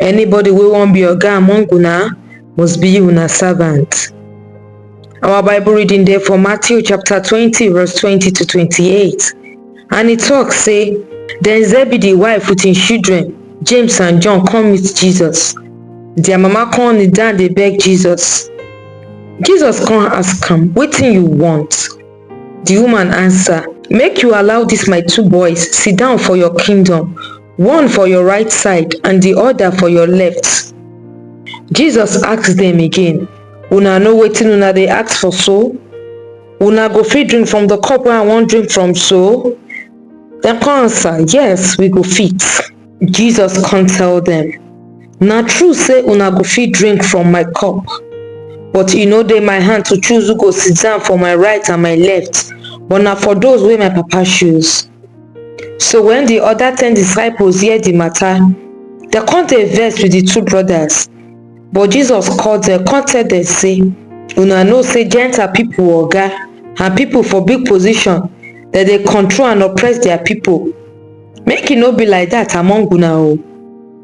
anybody wey wan be oga among una must be una servant our bible reading dey for matthew chapter twenty verse twenty to twenty-eight and e tok say den zebedee wife wit im children james and john come meet jesus dia mama come kneel down dey beg jesus jesus come ask am wetin you want di woman ansa make you allow dis my two boys sit down for your kingdom one for your right side and di oda for your left jesus ask dem again una know wetin una dey ask for so una go fit drink from di cup wey i wan drink from so dem come answer yes we go fit jesus come tell dem na true say una go fit drink from my cup but e no dey my hand to choose who go sit down for my right and my left but na for those wey my papa choose So wen di oda ten disciples hear di mata, dem kon dey vex wit di two brodas. But Jesus call dem kon tell dem sey, Una know sey Gentile pipol oga and pipol for big position dem dey control and oppress dia pipol. Make e no be like dat among una o.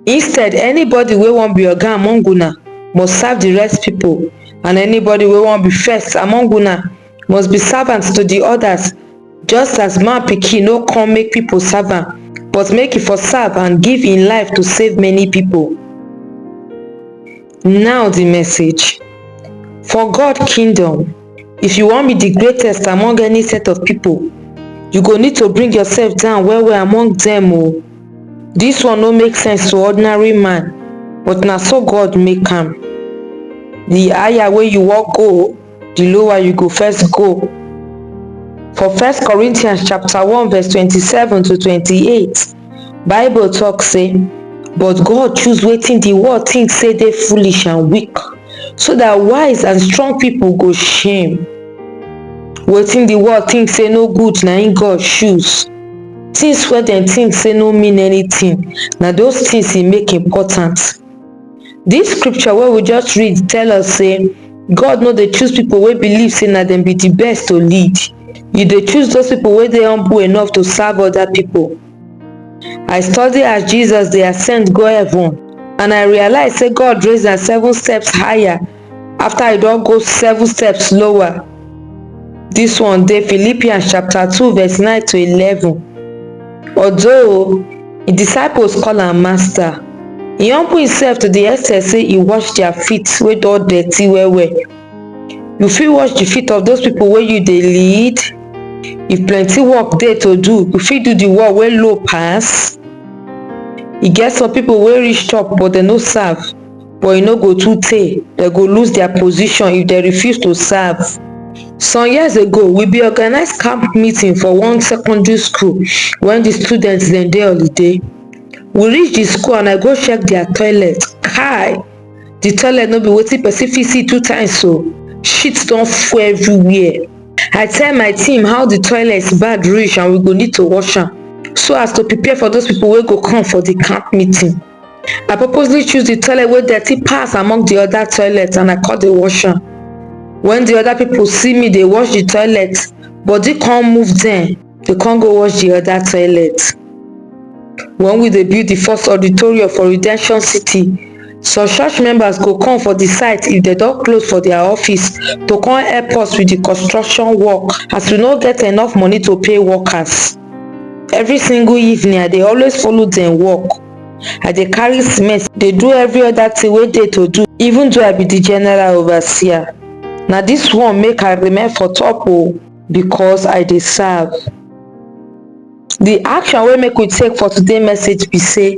Instead, anybody wey won be oga among una must serve di rest pipol and anybody wey won be first among una, must be servant to di odas just as man pikin no come make pipo serve am but make e for serve and give im life to save many pipo now di message for god kingdom if you wan be di greatest among any set of pipo you go need to bring yourself down well well among dem o dis one no make sense to ordinary man but na so god make am di higher wey you wan go di lower you go first go for first corinthians chapter one verse twenty seven to twenty eight bible talk say but god choose wetin di world think say dey foolish and weak so that wise and strong people go shame wetin di world think say no good na im god choose things wey dem think say no mean anything na those things he make important Dis scripture wey we just read tell us sey God no dey choose pipu wey believe sey na dem be di best to lead, e dey choose those pipu wey dey humble enough to serve other pipu. I study as Jesus dey ascend go heaven and I realize sey God raise am seven steps higher after I don go seven steps lower. This one dey Philippians chapter 2 verse 9 to 11. Although the disciples call am master, he humble himself to the extent say he wash their feet wey don dirty well well. You fit wash the feet of those people wey you dey lead? If plenty work dey to do, you fit do the one wey low pass? E get some people wey reach top but dem no serve. but e no go too tey dem go lose dia position if dem refuse to serve some years ago we bin organise camp meeting for one secondary school wen di students dem dey holiday we reach di school and i go check dia toilet kai di toilet no be wetin person fit see two times o shit don full everywhere i tell my team how di toilet bad reach and we go need to wash am so as to prepare for those pipo wey go come for di camp meeting I purposely choose the toilet wey dirty pass among the other toilets and I come dey wash am. When the other people see me dey wash the toilet, body come move dem, dey come go wash the other toilet. When we dey build the first auditorium for Redemption City, some church members go come for the site if dem don close for their office to come help us with the construction work as we no get enough money to pay workers. every single evening i dey always follow dem work i dey carry cement dey do every other thing wey dey to do even though i be the general overseer na this one make i remain for top o because i dey serve the action wey make we take for today message be say